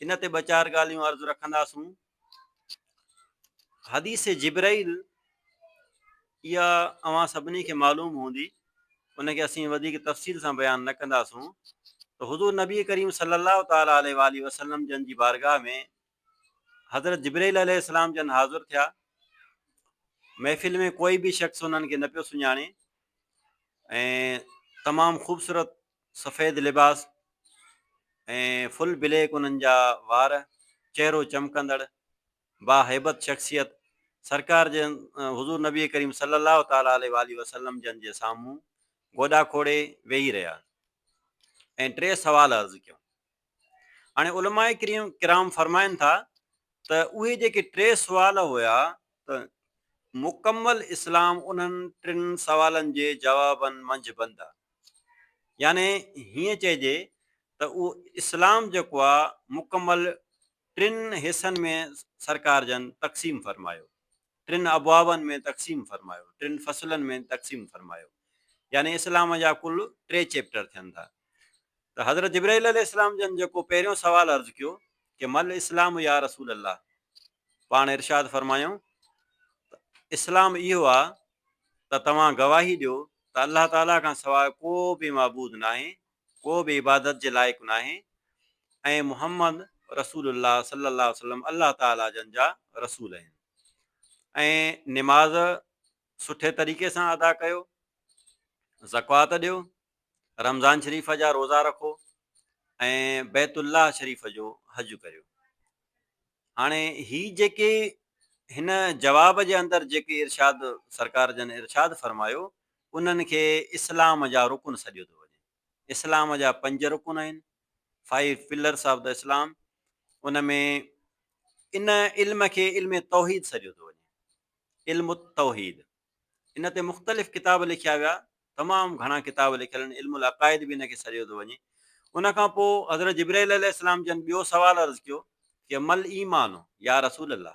ان تي ٻه چار ڳالهيون عرض رکنداسون. حديث جبرائيل اها اوهان سڀني کي معلوم هوندي ان کي اسين وڌيڪ تفصيل سان بيان نه ڪنداسون ته حضور نبي ڪريم صلي الله تعالٰي عليه واٰله وسلم جن جي بارگاهه ۾ حضرت جبرائيل عليه السلام جن حاضر ٿيا محفل ۾ ڪوئي به شخص انهن کي نه پيو سڃاڻي ۽ تمام خوبصورت سفيد لباس ۽ فل بليڪ انهن جا وار، چهرو چمڪندڙ، با هيبت شخصيت، سرڪار جن حضور نبي ڪريم صلي الله تعالٰي عليه واٰله وسلم جن جي سامهون گوڏا کوڙي ويهي رهيا ۽ ٽي سوال عرض ڪيون. هاڻي علماء ڪرام فرمائن ٿا ته اهي جيڪي ٽي سوال هيا ته مڪمل اسلام انهن ٽن سوالن جي جوابن منجهه بند آ. يعني هيئن چئجي ته اهو اسلام جيڪو آ مڪمل ٽن حصن ۾ سرڪار جن تقسيم فرمايو. ٽن ابوابن ۾ تقسيم فرمايو، ٽن فصلن ۾ تقسيم فرمايو، يعني اسلام جا ڪل ٽي چيپٽر ٿين ٿا ته حضرت جبرائيل عليه السلام جن جيڪو پهريون سوال عرض ڪيو ڪي ما الاسلام يا رسول الله پاڻ ارشاد فرمايائون ته اسلام اهو آ ته توهان گواهي ڏيو ته الله تعالي کان سواء ڪو به معبود ناهي ڪو به عبادت جي لائق ناهي ۽ محمد رسول الله صلي الله عليه وسلم الله تعالي جن جا رسول آهن ۽ نماز سٺي طريقي سان ادا ڪيو زڪوات ڏيو رمضان شريف جا روزا رکو ۽ بيت الله شريف جو حج ڪريو هاڻي هي جيڪي هن جواب جي اندر جيڪي ارشاد سرڪار جن ارشاد فرمايو انهن کي اسلام جا رڪن سڏيو ٿو وڃي. اسلام جا پنج رڪن آهن، Five Pillars of the Islam، ان ۾ ان علم کي علم توحيد سڏيو ٿو وڃي، علم التوحيد. ان تي مختلف ڪتاب لکيا ويا، تمام گهڻا ڪتاب لکيل آهن، علم العقائد به ان کي سڏيو ٿو وڃي. ان کان پوء حضرت جبرئيل عليه السلام جن ٻيو سوال عرض ڪيو ڪي مل ايمان يا رسول الله،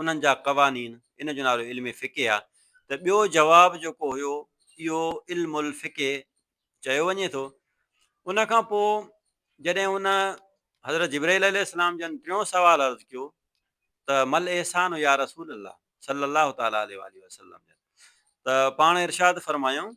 انهن جا قوانين، ان جو نالو علم فقه آ ته ٻيو جواب جيڪو هيو اهو علم الفقه چيو وڃي ٿو. ان کان پوء جڏهن ان حضرت جبرئيل عليه السلام جن ٽيون سوال عرض ڪيو ته ما الاحسان يا رسول الله صلّي الله تعالٰي عليه واٰله وسلّم جن ته پاڻ ارشاد فرمايائون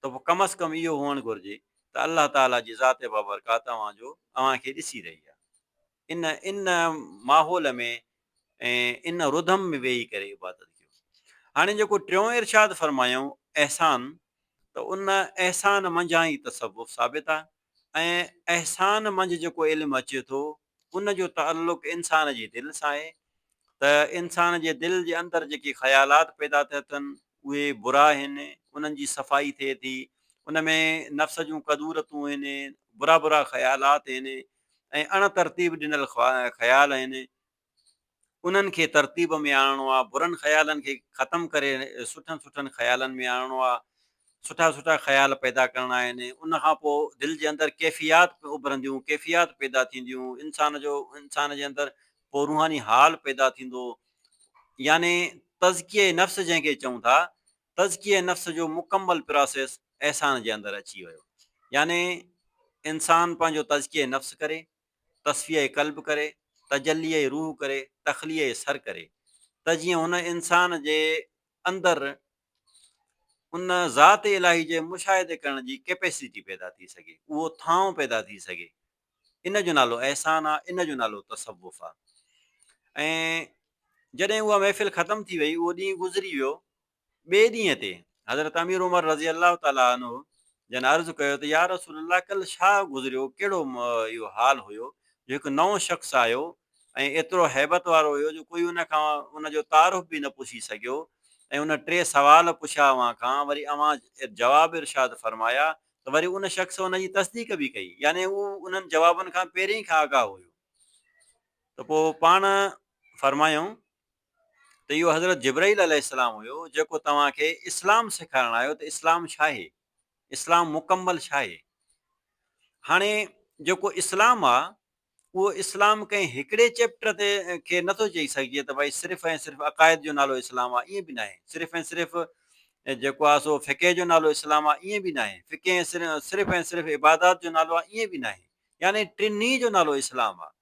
ته پوء ڪم از ڪم اهو هئڻ گهرجي ته الله تعاليٰ جي ذات بابرڪات اوهان جو اوهان کي ڏسي رهي آهي. ان ان ماحول ۾ ۽ ان رڌم ۾ ويهي ڪري عبادت ڪيو. هاڻي جيڪو ٽيون ارشاد فرمايائون احسان ته ان احسان منجهان ئي تصوف ثابت آهي ۽ احسان منجھ جيڪو علم اچي ٿو ان جو تعلق انسان جي دل سان آهي ته انسان جي دل جي اندر جيڪي خيالات پيدا ٿيا ٿن اهي برا آهن انهن جي صفائي ٿئي ٿي ان ۾ نفس جون ڪدورتون آهن برا برا خيالات آهن ۽ اڻ ترتيب ڏنل خيال آهن انهن کي ترتيب ۾ آڻڻو آ، برن خيالن کي ختم ڪري سٺن سٺن خيالن ۾ آڻڻو آ، سٺا سٺا خيال پيدا ڪرڻا آهن، ان کان پوء دل جي اندر ڪيفيات اڀرنديون، ڪيفيات پيدا ٿينديون، انسان جو انسان جي اندر پوء روحاني حال پيدا ٿيندو، يعني تزڪيه نفس جنهن کي چئون ٿا، تزڪيه نفس جو مڪمل پراسيس احسان جي اندر اچي ويو، يعني انسان پنهنجو تزڪيه نفس ڪري، تصفيه قلب ڪري، تجليء روح ڪري، تخليء سر ڪري ته جيئن هن انسان جي اندر ان ذات الاهي جي مشاهدي ڪرڻ جي ڪيپيسٽي پيدا ٿي سگهي، اهو ٿانء پيدا ٿي سگهي. ان جو نالو احسان آ، ان جو نالو تصوف آ. ۽ جڏهن اها محفل ختم ٿي وئي، اهو ڏينهن گذري ويو ٻئي ڏينهن تي حضرت امير عمر رضي الله تعالٰي عنه جن عرض ڪيو ته يا رسول الله ڪلهه ڇا گذريو ڪهڙو اهو حال هيو جو هڪ نئون شخص آيو ۽ ايترو هيبت وارو هيو جو ڪوئي ان کان ان جو تعارف به نه پڇي سگهيو ۽ ان ٽي سوال پڇيا اوهان کان وري اوهان جواب ارشاد فرمايا ته وري ان شخص ان جي تصديق به ڪئي يعني اهو انهن جوابن کان پهرين ئي کان آگاهه هيو ته پوء پاڻ فرمايائون ته اهو حضرت جبرئيل عليه السلام هيو جيڪو توهان کي اسلام سيکارڻ آيو ته اسلام ڇاهي؟ اسلام مڪمل ڇاهي؟ هاڻي جيڪو اسلام آ اهو اسلام ڪنهن هڪڙي چيپٽر تي کي نٿو چئي سگهجي ته ڀائي صرف ۽ صرف عقائد جو نالو اسلام آ ائين به ناهي صرف ۽ صرف جيڪو آ سو فقه جو نالو اسلام آ ائين به ناهي فقه صرف ۽ صرف عبادات جو نالو آ ائين به ناهي يعني ٽنهي جو نالو اسلام آ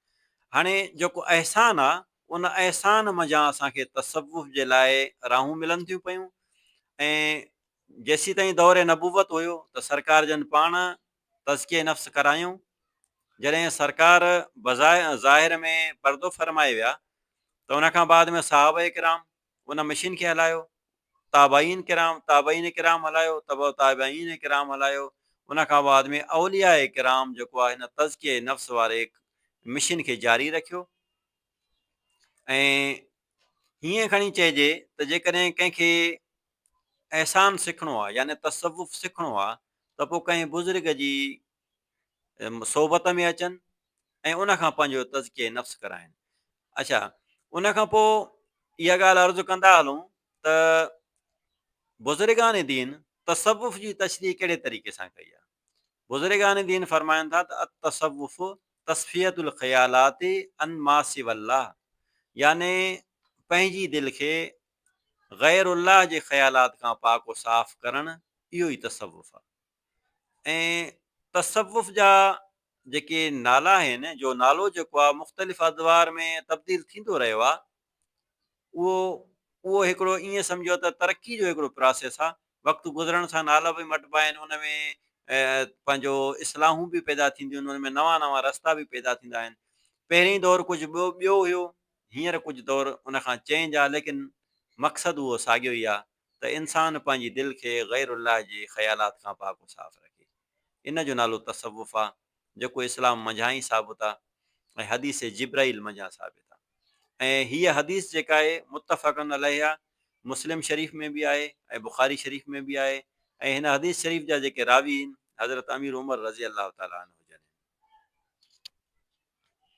هاڻي جيڪو احسان آ ان احسان منجهان اسان کي تصوف جي لاء راهون ملن ٿيون پيون ۽ جيسيتائين دور نبوت هيو ته سرڪار جن پاڻ تزڪيه نفس ڪرايون. جڏهن سرڪار بظاهر ۾ پردو فرمائي ويا ته ان کان بعد ۾ صحابه ڪرام، ان مشين کي هلايو، تابعين ڪرام، تابعين ڪرام هلايو، تبع تابعين ڪرام هلايو، ان کان بعد ۾ اولياء ڪرام جيڪو آهي هن تزڪيه نفس واري مشين کي جاري رکيو ۽ هيئن کڻي چئجي ته جيڪڏهن ڪنهن کي احسان سکڻو آهي يعني تصوف سکڻو آهي ته پوء ڪنهن بزرگ جي صحبت ۾ اچن ۽ ان کان پنهنجو تزڪيه نفس ڪرائن اچا ان کان پوء اها ڳالهه عرض ڪندا هلون ته بزرگان دين تصوف جي تشريح ڪهڙي طريقي سان ڪئي آهي بزرگان دين فرمائن ٿا ته التصوف تصفیت الخيالات ان ما سوى الله يعني پنهنجي دل کي غير الله جي خيالات کان پاڪ و صاف ڪرڻ اهو ئي تصوف آهي ۽ تصوف جا جيڪي نالا آهن جو نالو جيڪو آهي مختلف ادوار ۾ تبديل ٿيندو رهيو آهي اهو اهو هڪڙو ائين سمجهو ته ترقي جو هڪڙو پراسيس آهي وقت گذرڻ سان نالا به مٽبا آهن ان ۾ پنهنجو اصلاحون به پيدا ٿينديون آهن ان ۾ نوان نوان رستا به پيدا ٿيندا آهن پهرين دور ڪجهه ٻيو ٻيو هيو هينئر ڪجهه دور ان کان چينج آهي ليڪن مقصد اهو ساڳيو ئي آهي ته انسان پنهنجي دل کي غير الله جي خيالات کان پاڪ و صاف رکي. ان جو نالو تصوف آ، جيڪو اسلام منجهان ئي ثابت آ ۽ حديث جبرائيل منجهان ثابت آ ۽ هيء حديث جيڪا آهي متفق عليه آ، مسلم شريف ۾ به آهي ۽ بخاري شريف ۾ به آهي ۽ هن حديث شريف جا جيڪي راوي هن حضرت امير عمر رضي الله تعالٰي عنه جن هن.